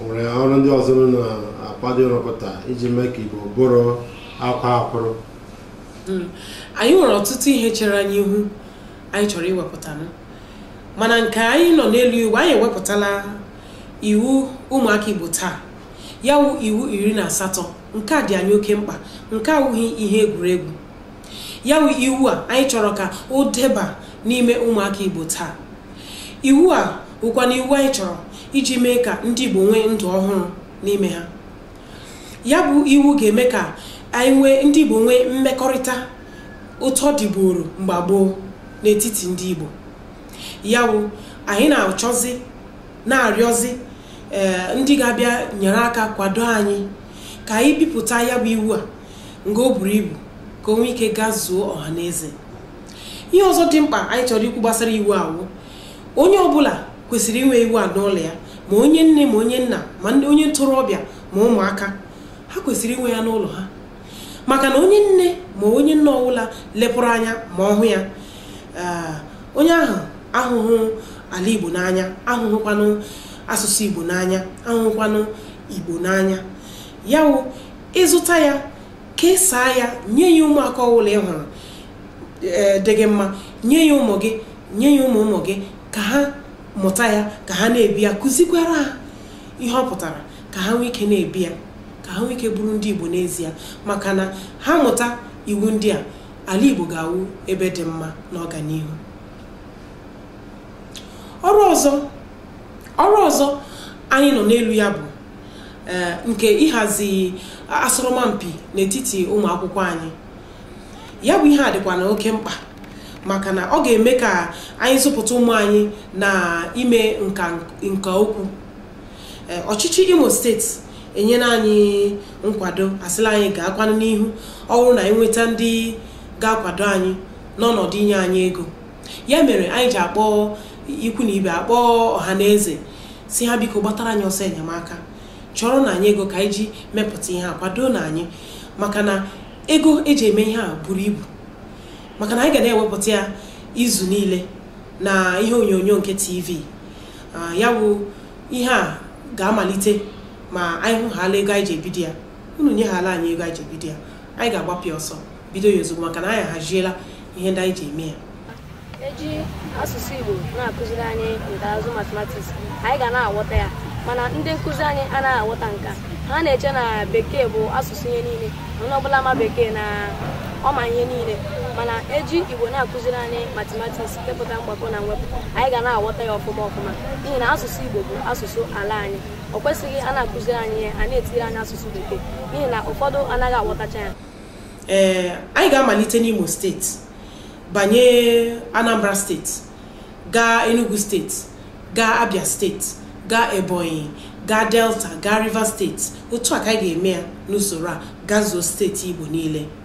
o nwere ọrụ ndị ọzọ unu na-akwado ịrụpụta iji mee ka igbo bụrụ akwa akwụrụ anyị nwere ọtụtụ ihe chere anyị ihu anyị chọrọ iwepụta nụ. mana nke anyị nọ n'elu iwu anyị ewepụtala iwu ụmụaka igbo taa ya wụ iwu iri na asatọ nke a dị anyị oke mkpa nke awụghị ihe egwuregwu ya wụ iwu a anyị chọrọ ka o deba n'ime ụmụaka igbo taa iwu a bụkwa na iwu anyị chọrọ iji mee ka ndị igbo nwee ndụ ọhụrụ n'ime ha ya bụ iwu ga-eme ka anyị nwee ndị igbo nwee mmekọrịta otu ọ dịburu mgbe gboo n'etiti ndị igbo ya bụ anyị na-achọzi na-arịọzi eh, ndị ga-abịa nyere aka kwado anyị ka anyị bipụta ya bụ iwu a nga o buru ibu ka o nwee ike gazuo ọha na eze ihe ọzọ dị mkpa anyị chọrọ ikwu gbasara iwu a wụ onye ọbụla kwesịrị inwe iwu a n'ụlọ ya ma onye nne ma onye nna ma onye ntorobịa ma ụmụaka ha kwesịrị inwe ya n'ụlọ ha maka na onye nne ma onye nna ọbụla lepụrụ anya ma ọ hụ ya eh, onye ahụ ahụhụ ala igbo n'anya ahụhụkwanụ asụsụ igbo n'anya ahụhụkwanụ igbo n'anya ya wụ ịzụta ya kesaa ya nye ya ụmụaka ọbụla ị hụrụ ee, dị gị mma nye ya ụmụ gị nye ya ụmụ ụmụ gị ka ha mụta ya ka ha na-ebi ya kụzikwara ha ihe ọ pụtara ka ha nwee ike na-ebi ya ka ha nwee ike bụrụ ndị igbo n'ezie maka na ha mụta iwu ndị a ala igbo ga-awụ ebe dị mma n'ọganihu ọrụ ọzọ ọrụ ọzọ anyị nọ n'elu ya bụ eh, nke ịhazi asọrọmpi n'etiti ụmụ akwụkwọ anyị ya bụ ihe a dịkwa na oke mkpa maka na ọ ga-eme ka anyị zụpụta ụmụ anyị na ime nka nka okwu eh, ọchịchị imo steeti enyela anyị nkwado asịla anyị gaakwanụ n'ihu ọ bụrụ na e nweta ndị ga-akwado anyị n'ọnọdụ inye anyị ego ya mere anyị ji akpọ ikwu na ibe akpọ ọha na eze sị ha biko gbatara anyị ọsọ enyemaka chọrọ nụ anyị ego ka anyị ji mepụta ihe a kwado nụ anyị maka na ego e ji eme ihe a buru ibu maka na anyị ga na-ewepụta ya izu niile na ihe onyonyo nke tv ah, ya bụ ihe a ga-amalite ma anyị hụhala ego anyị ji ebido ya unu nyehala anyị ego anyị ji bido ya anyị ga-agbapịa ọsọ bido ya ozugbo maka na anyị ahaziela ihe ndị anyị ji eme ya e ji asụsụ Igbo na-akụziri anyị nka na ụzụ matematiks anyị ga na-aghọta ya mana ndị nkụzi anyị anaghị aghọta nke a ha na-eche na bekee bụ asụsụ ihe niile onye ọbụla ma bekee na ọ ma ihe niile mana e ji Igbo na-akụziri anyị matematiks nke pụtara mgbakọ na mwepụ anyị ga na-aghọta ya ọfụma ọfụma n'ihi na asụsụ Igbo bụ asụsụ ala anyị o kwesịghị a na-akụziri anyị ya a na-etiri anyị asụsụ bekee n'ihi na ụfọdụ anaghị aghọtacha ya ee eh, anyị ga-amalite n'Imo steeti banye Anambra steeti gaa Enugu steeti gaa Abia steeti gaa Ebonyi gaa Delta gaa Rivers steeti otu a ka anyị ga-eme ya n'usoro a gazuo steeti Igbo niile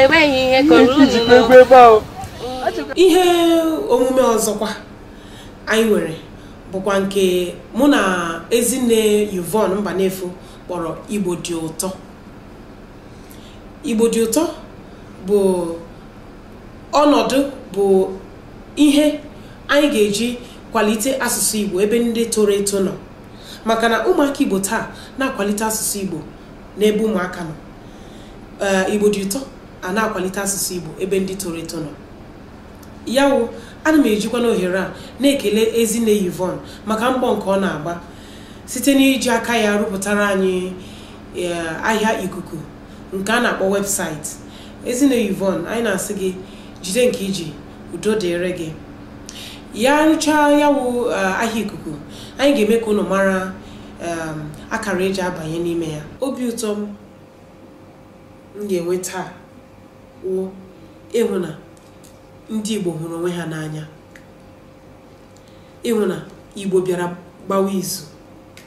enweghị ihe kọrọ unu ijikwa egwu n'ọnụ. ebe ahụ ihe omume ọzọkwa anyị nwere bụkwa nke mụ na ezinne Yvonne Mbanefo kpọrọ igbo dị ụtọ igbo dị ụtọ bụ ọnọdụ bụ ihe anyị ga-eji kwalite asụsụ igbo ebe ndị toro eto nọ maka na ụmụaka igbo taa na-akwalite asụsụ igbo n'ebe ụmụaka nọ eh, igbo dị ụtọ a na-akwalite asụsụ igbo ebe ndị toro eto nọ ya wụ ana m ejikwa n'ohere a na-ekele ezinne Yvonne maka mbọ nke ọ na-agba site n'iji aka ya rụpụtara anyị eh, ahịa ikuku nke a na-akpọ website ezinne Yvonne anyị na-asị gị jide nke i ji udo dịrị gị ya rụchaa ya wụ eh, ahịa ikuku anyị ga-eme ka unu mara um, akara e ji abanye n'ime ya obi ụtọ m m ga-enwe taa wụ ịhụ na ndị Igbo hụrụ onwe ha n'anya ịhụ na Igbo bịara gbawa izu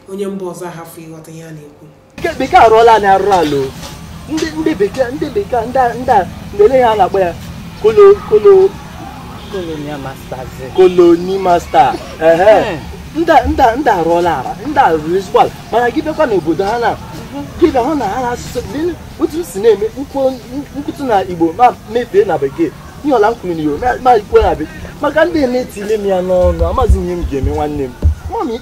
onye mba ọzọ ahafụ ịghọta ihe a na-ekwu bekee arụọla anyị arụrụ ala ndị bekee ndị bekee ndị a niile ha na-akpọ ya kolo kolo colonial masters koloni masta ehe ndị ndị ndị arụọla ala ndị a rụrụ ezigbo ala mana gị bịakwa n'obodo ha na gị bịa hụ na ha na-asụsụ lee otu m si na-eme m kwu- m kwutu na igbo m amafee na bekee ihe ọbụla m kwuru na igbo ma- m ekwuo na bekee maka ndị na-etile m ya n'ọnụ amaghịzi m ihe m ga-eme nwanne m mami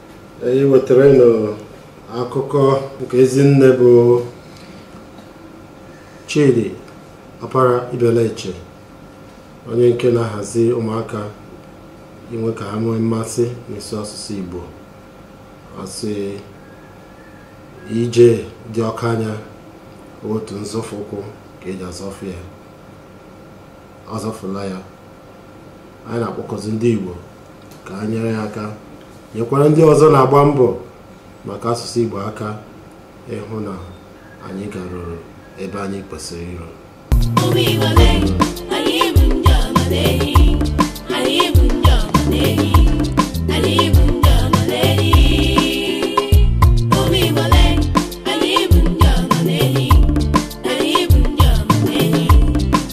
anyị wetaara unu akụkọ nke ezinne bụ Chidi Ọpara Ibeleche onye nke na-ahazi ụmụaka inwe ka ha nwee mmasị n'ịsụ asụsụ Igbo a sị ije dị oke anya otu nzọfụ ụkwụ ka e ji azọfụ ya ọ zọfụla ya anyị na-akpọkuzi ndị Igbo ka ha nyere ya aka nyekwara ndị ọzọ na-agba mbọ maka asụsụ Igbo aka ịhụ na anyị garuru ebe anyị kwesịrị iru